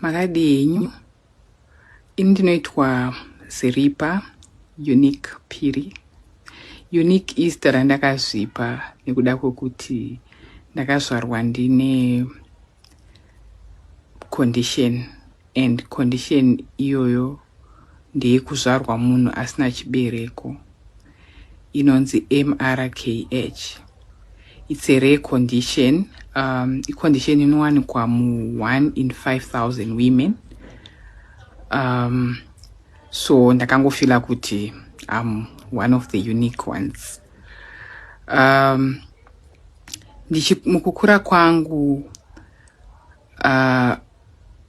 makadii henyu ini ndinoitwa ziripa unique piri unique izita randakazvipa nekuda kwekuti ndakazvarwa ndine condition and condition iyoyo ndeyekuzvarwa munhu asina chibereko inonzi MRKH. It's a rare condition. Um, icondition inowanikwa mu 1 in 5000 women. Um, so ndakangofila kuti I'm one of the unique ones. Um, ndichi mukukura kwangu uh,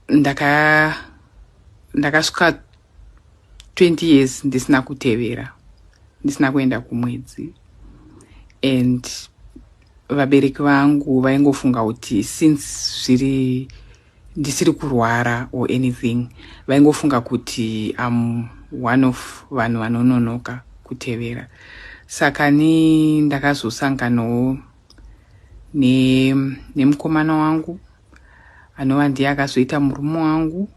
ndaka ndakasvika 20 years ndisina kutevera ndisina kuenda kumwedzi and vabereki vangu vaingofunga kuti since zviri ndisiri kurwara or anything vaingofunga kuti am one of vanhu vanononoka kutevera saka ni ndakazosanganawo nemukomana ne wangu anova ndiye akazoita murume wangu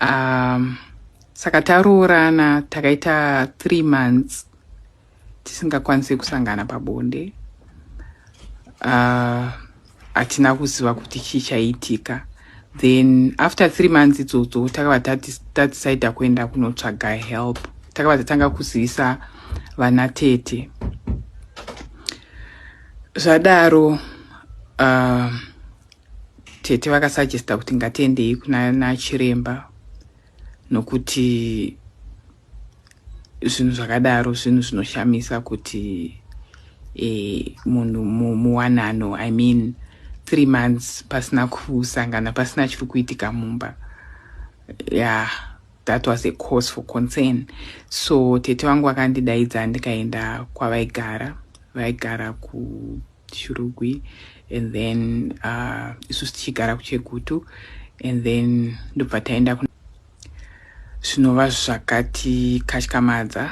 um, saka taroorana takaita three months tisingakwanise kusangana pabonde uh, hatina uh, kuziva kuti chii chaiitika then after three months idzodzo takava tadecida kuenda kunotsvaga help takava tatanga kuzivisa vana tete zvadaro uh, tete vakasajesta kuti ngatiendei kuna nachiremba nokuti zvinhu zvakadaro zvinhu zvinoshamisa kuti eh, munhu muwanano i mean three months pasina kusangana pasina chiri kuitika mumba ya yeah. That was a cause for concern so tete vangu vakandidaidza ndikaenda kwavaigara vaigara kushurugwi and then uh, isu tichigara kuchegutu and then ndobva taenda zvinova zvakatikatyamadza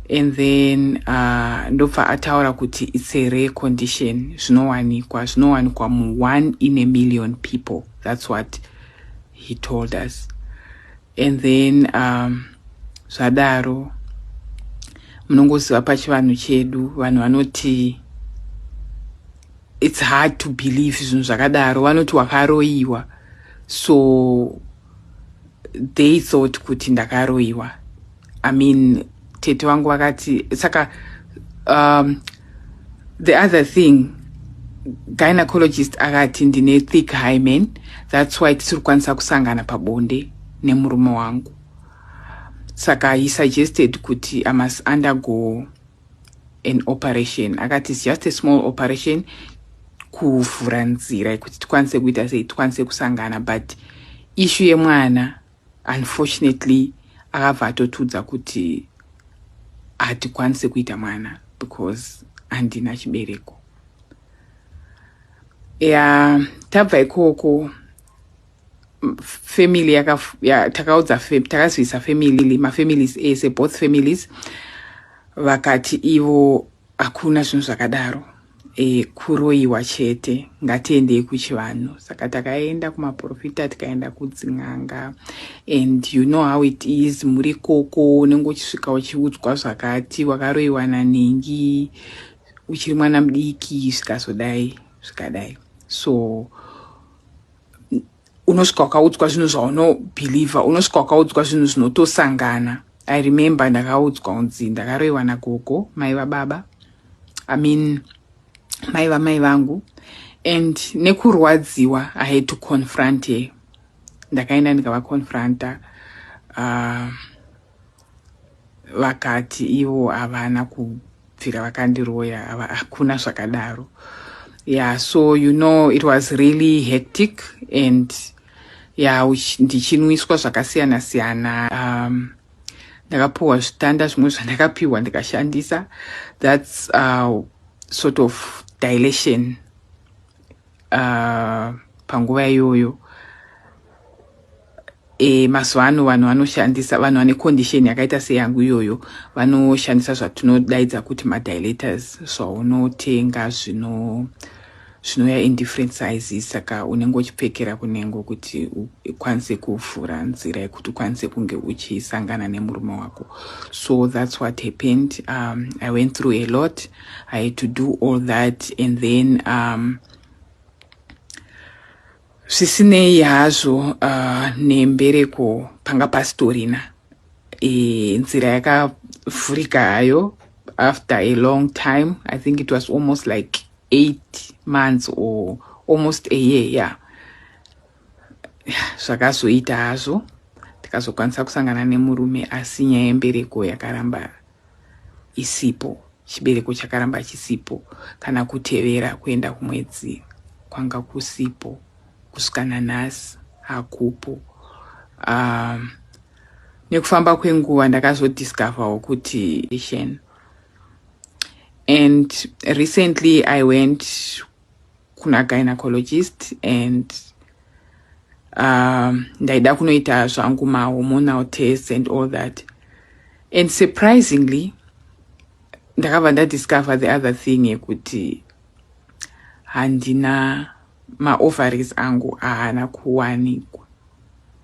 and then uh, ndobva ataura kuti its a rare condition zvinowanikwa zvinowanikwa mu one in a million people that's what he told us and then um, zvadaro munongoziva pachivanhu chedu vanhu vanoti it's hard to believe zvinhu zvakadaro vanoti wakaroyiwa so they thought kuti ndakaroyiwa I mean tete wangu vakati saka um, the other thing gynecologist akati ndine thick hymen that's why tisiri kukwanisa kusangana pabonde nemurume wangu saka he suggested kuti i must undergo an operation akati it's just a small operation kuvhura nzira yekuti tikwanise kuita sei tikwanise kusangana but ishu yemwana Unfortunately akabva atotiudza kuti hatikwanise kuita mwana because handina chibereko ya tabva ikoko family yaka ya, takaudza takazivisa family mafamilies ese both families vakati ivo Hakuna zvinhu zvakadaro e, kuroiwa chete. Ngatiendei kuchivanhu. Saka takaenda kumaprofita tikaenda kudzin'anga and you know how it is, muri koko unenge uchisvika uchiudzwa zvakati wakaroiwa nanhingi uchiri mwana mudiki zvikazodai zvikadai so unosvika wakaudzwa zvinhu zvaunobhilivha unosvika wakaudzwa zvinhu zvinotosangana i remember ndakaudzwa unzi ndakaroiwa nagogo mai vababa i mean mai vamai vangu and nekurwadziwa i had to confront her ndakaenda ndikavaconfronta uh, vakati ivo havana kubvira vakandiroya hakuna zvakadaro yeah so you know it was really hectic and yeah ndichinwiswa zvakasiyana siyana um, ndakapiwa zvitanda zvimwe zvandakapiwa ndikashandisa that's uh, sort of dilation uh, panguva iyoyo e, mazuva ano vanhu vanoshandisa vanhu vane condition yakaita seyangu iyoyo vanoshandisa zvatinodaidza kuti madilators zvaunotenga zvino zvinouya in different sizes saka unenge uchipfekera kunengo kuti ukwanise kuvhura nzira yekuti ukwanise kunge uchisangana nemurume wako so that's what happened um, i went through a lot I had to do all that and then um, zvisinei hazvo uh, nembereko panga pasitorina e, nzira yakavhurika hayo after a long time i think it was almost like eight months or almost a year yeah zvakazoita hazvo tikazokwanisa kusangana nemurume asi nyaya yembereko yakaramba isipo chibereko chakaramba chisipo kana kutevera kuenda kumwedzi kwanga kusipo kusvika nanhasi hakupo um, nekufamba kwenguva ndakazodiscoverwo kuti and recently i went kuna gynecologist and um, ndaida kunoita zvangu mahormonal test and all that and surprisingly ndakabva ndadiscover the other thing yekuti handina maovaries angu ahana kuwanikwa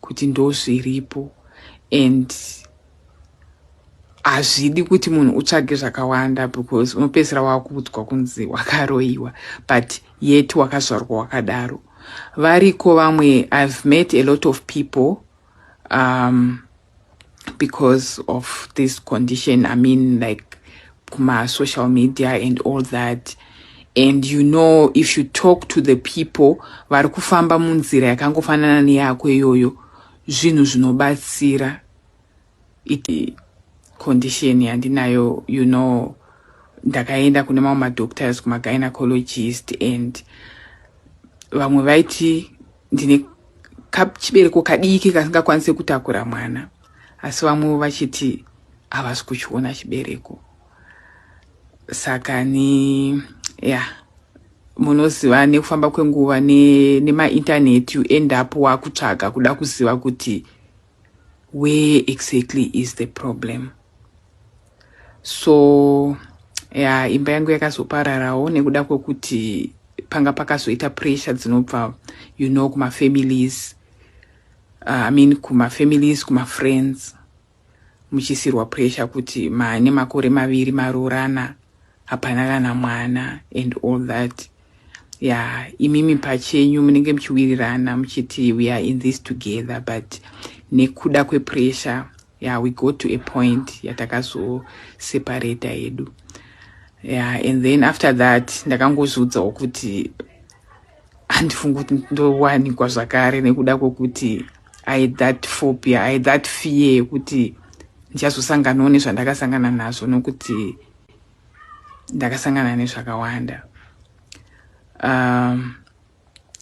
kuti ndozviripo and hazvidi kuti munhu utsvage zvakawanda because unopedzisira wakuudzwa kunzi wakaroyiwa but yet wakazvarwa wakadaro variko vamwe i've met a lot of people um, because of this condition i mean like my social media and all that and you know if you talk to the people vari kufamba munzira yakangofanana neyako iyoyo zvinhu zvinobatsira iti condition yandinayo you know ndakaenda kune mamwe madoctors kumagynecologists and vamwe vaiti ndine kachibereko kadiki kasingakwanise kutakura mwana asi vamwewo vachiti havasi kuchiona chibereko saka ni ya yeah. munoziva nekufamba kwenguva nemaintaneti ne you end up wakutsvaga kuda kuziva kuti where exactly is the problem so ya imba yangu yakazopararawo nekuda kwekuti panga pakazoita pressure dzinobva you know kumafamilies uh, i mean kumafamilies kumafriends muchiisirwa pressure kuti maane makore maviri maroorana hapana kana mwana and all that ya imimi pachenyu munenge muchiwirirana muchiti we are in this together but nekuda kwepressure ya we go to a point yatakazoseparata yedu ya and then after that ndakangozviudzawo kuti handifungi kuti ndowanikwa zvakare nekuda kwokuti i that phobia i that fear yekuti ndichazosanganawo nezvandakasangana nazvo nokuti ndakasangana nezvakawanda um,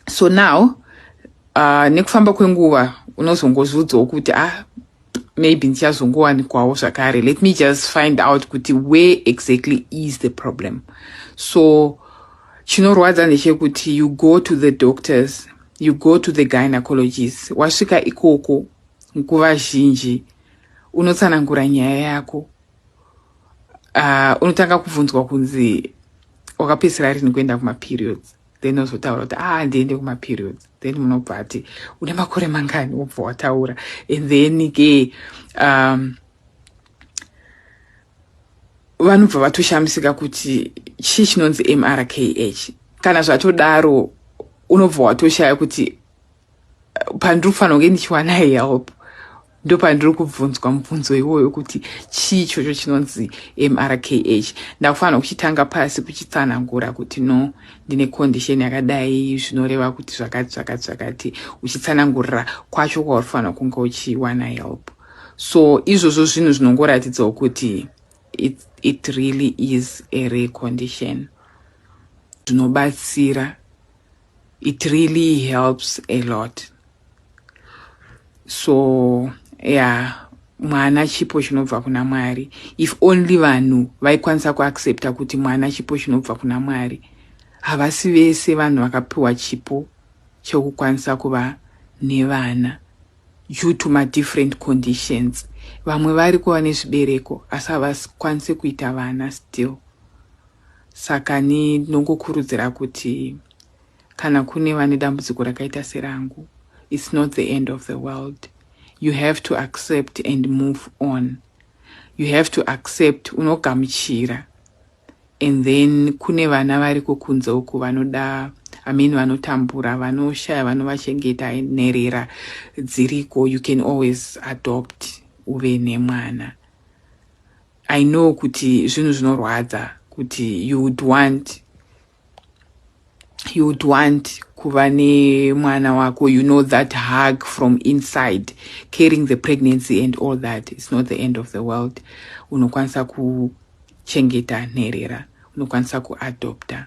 so now uh, nekufamba kwenguva unozongozudzawo kuti ah maybe ndichazongowanikwawo zvakare let me just find out kuti where exactly is the problem so chinorwadza ndechekuti you go to the doctors you go to the gynecologist wasvika ikoko nguva zhinji unotsanangura nyaya yako uh, unotanga kubvunzwa kunzi wakapedzisira rini kuenda kumaperiods then ozotaura kuti ah ndiende kumaperiods then munobva ati une makore mangani wobva wataura and then ke um, vanobva vatoshamisika kuti chii chinonzi mrkh kana zvatodaro unobva watoshaya kuti pandiri kufanira kunge ndichiwana help ndopandiri kubvunzwa mubvunzo iwoyo kuti chii chocho chinonzi mrkh ndakufanira kuchitanga pasi kuchitsanangura kuti no ndine condition yakadai zvinoreva kuti zvakati zvakati zvakati uchitsanangurira kwacho kwauri kufanira kunge uchiwana help so izvozvo zvinhu zvinongoratidzawo kuti it, it really is a recondition zvinobatsira it really helps a lot so yeah mwana chipo chinobva kuna mwari if only vanhu vaikwanisa kuaccepta kuti mwana chipo chinobva kuna mwari havasi vese vanhu vakapiwa chipo chekukwanisa kuva nevana due to madifferent conditions vamwe vari kuva nezvibereko asi havakwanise kuita vana still Saka ni ndinongokurudzira kuti kana kune vane dambudziko rakaita serangu it's not the end of the world you have to accept and move on you have to accept unogamuchira and then kune vana variko kunze uku vanoda i mean vanotambura vanoshaya vanovachengeta nherera dziriko you can always adopt uve nemwana I know kuti zvinhu zvinorwadza kuti you would want you would want kuva nemwana wako you know that hug from inside carrying the pregnancy and all that it's not the end of the world unokwanisa kuchengeta nherera unokwanisa kuadopta